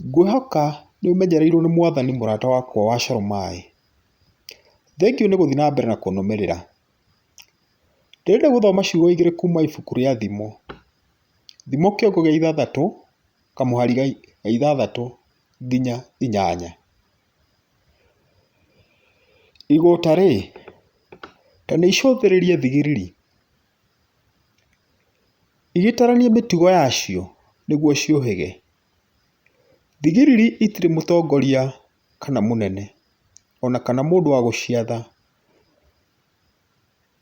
Ngwĩhoka nĩ ũmenyereirwo nĩ mwathani mũrata wakwa wa coro maĩ. Thengiũ nĩ gũthiĩ na mbere na kũnũmĩrĩra. Ndĩrenda gũthoma ciugo igĩrĩ kuma ibuku rĩa thimo. Thimo kĩongo gĩa ithathatũ kamũhari ga ithathatũ nginya inyanya. Igũta rĩ, ta nĩ icũthĩrĩrie thigiriri, igĩtarania mĩtugo yacio nĩguo ciũhĩge. Thigiriri itirĩ mũtongoria kana mũnene, ona kana mũndũ wa gũciatha,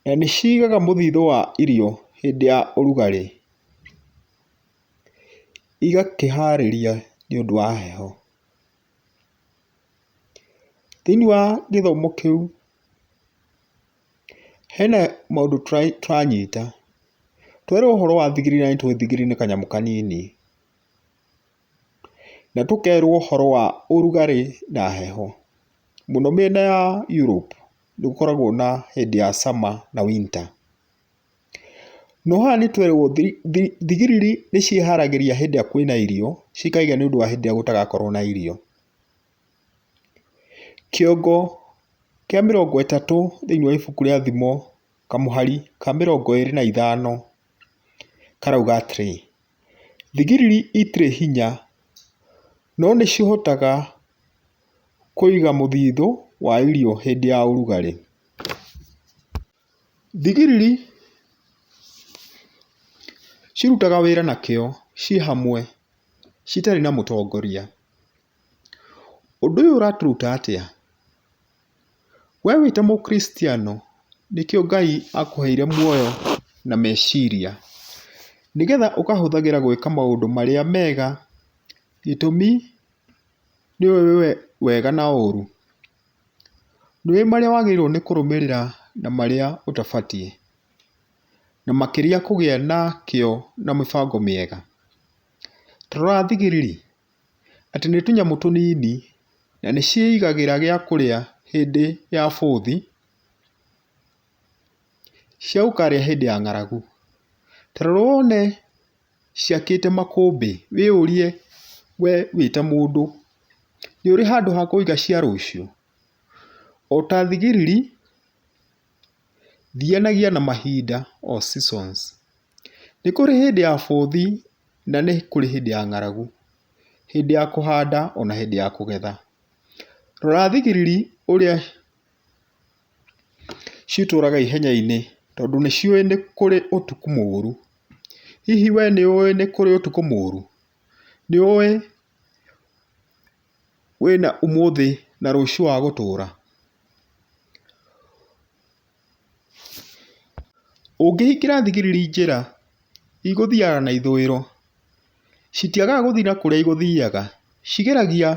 na nĩ cigaga mũthithũ wa irio hĩndĩ ya ũrugarĩ, igakĩharĩria nĩ ũndũ wa heho. Thĩiniĩ wa gĩthomo kĩu... Hena maũndũ tũranyita, twerwo ũhoro wa thigiri na nĩtũĩ thigiri nĩ kanyamũ kanini, na tũkerwo ũhoro wa ũrugarĩ na heho. Mũno mĩena ya Europe nĩ gũkoragwo na hĩndĩ ya summer na winter. No haha nĩ twerwo thigiriri nĩ ciĩharagĩria hĩndĩ ĩrĩa kwĩna irio cikaiga nĩ ũndũ wa hĩndĩ ĩrĩa gũtagakorwo na irio. Kĩongo kĩa mĩrongo ĩtatũ thĩinĩ wa ibuku rĩa thimo kamũhari ka mĩrongo ĩrĩ na ithano karauga atĩrĩ, thigiriri itirĩ hinya no nĩ cihotaga kũiga mũthithũ wa irio hĩndĩ ya ũrugarĩ. Thigiriri cirutaga wĩra na kĩo ciĩ hamwe citarĩ na mũtongoria. Ũndũ ũyũ ũratũruta atĩa? We wĩ ta mũkristiano nĩkĩo Ngai akũheire muoyo na meciria, nĩgetha ũkahũthagĩra gwĩka maũndũ marĩa mega, gĩtũmi nĩũĩ wega na ũru. Nĩũĩ marĩa wagĩrĩirwo nĩ kũrũmĩrĩra na marĩa ũtabatiĩ, na makĩria kũgĩa na kĩo na mĩbango mĩega. Ta rora thigiriri. atĩ nĩ tũnyamũ tũnini na nĩ ciĩigagĩra gĩa kũrĩa hĩndĩ ya bũthi, ciaũkarĩa hĩndĩ ya ng'aragu. Ta rora wone ciakĩte makũmbĩ, wĩyũrie we wĩ ta mũndũ, nĩ ũrĩ handũ ha kũiga cia rũciũ? O ta thigiriri, thianagia na mahinda or seasons. Nĩ kũrĩ hĩndĩ ya bothi na nĩ kũrĩ hĩndĩ ya ng'aragu, hĩndĩ ya kũhanda ona hĩndĩ ya kũgetha. Rora thigiriri ũrĩa citũraga ihenya-inĩ tondũ nĩ ciũĩ nĩ kũrĩ ũtukũ mũru. Hihi we nĩ ũĩ nĩ kũrĩ ũtukũ mũru? Nĩ ũĩ wĩna ũmũthĩ na rũciũ wa gũtũra? Ũngĩhingĩra thigiriri njĩra igũthiaga na ithũĩro, citiagaga gũthiĩ na kũrĩa igũthiaga. Cigeragia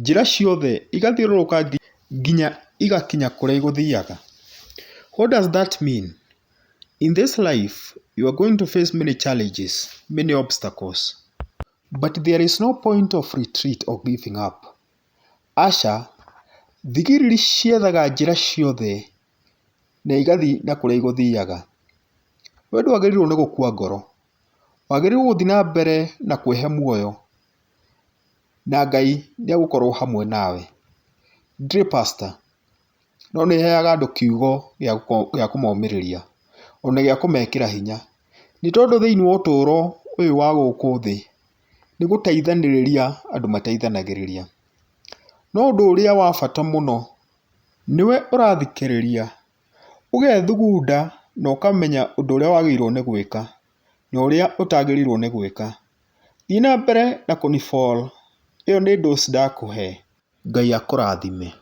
njĩra ciothe igathiũrũrũka nginya igakinya kũrĩa igũthiaga. What does that mean? In this life you are going to face many challenges, many obstacles, but there is no point of retreat or giving up. Aca, thigiriri ciethaga njĩra ciothe na igathiĩ na kũrĩa igũthiaga. We ndwagĩrĩirwo nĩ gũkua ngoro, wagĩrĩirwo gũthiĩ na mbere na kwĩhe muoyo, na Ngai nĩ egũkorwo hamwe nawe. Ndirĩ pastor. no nĩ ĩheaga andũ kiugo gĩa kũmomĩrĩria ona gĩa kũmekĩra hinya. Nĩ tondũ thĩiniĩ wa ũtũro ũyũ wa gũkũ thĩ nĩ gũteithanĩrĩria andũ mateithanagĩrĩria. No ũndũ ũrĩa wa bata mũno nĩwe ũrathikĩrĩria, ũgethugunda na ũkamenya ũndũ ũrĩa wagĩrĩirwo nĩ gwĩka na ũrĩa ũtagĩrĩirwo nĩ gwĩka. Thiĩ na mbere na kũni follow ĩyo nĩ dose ndakũhe. Ngai akũrathime.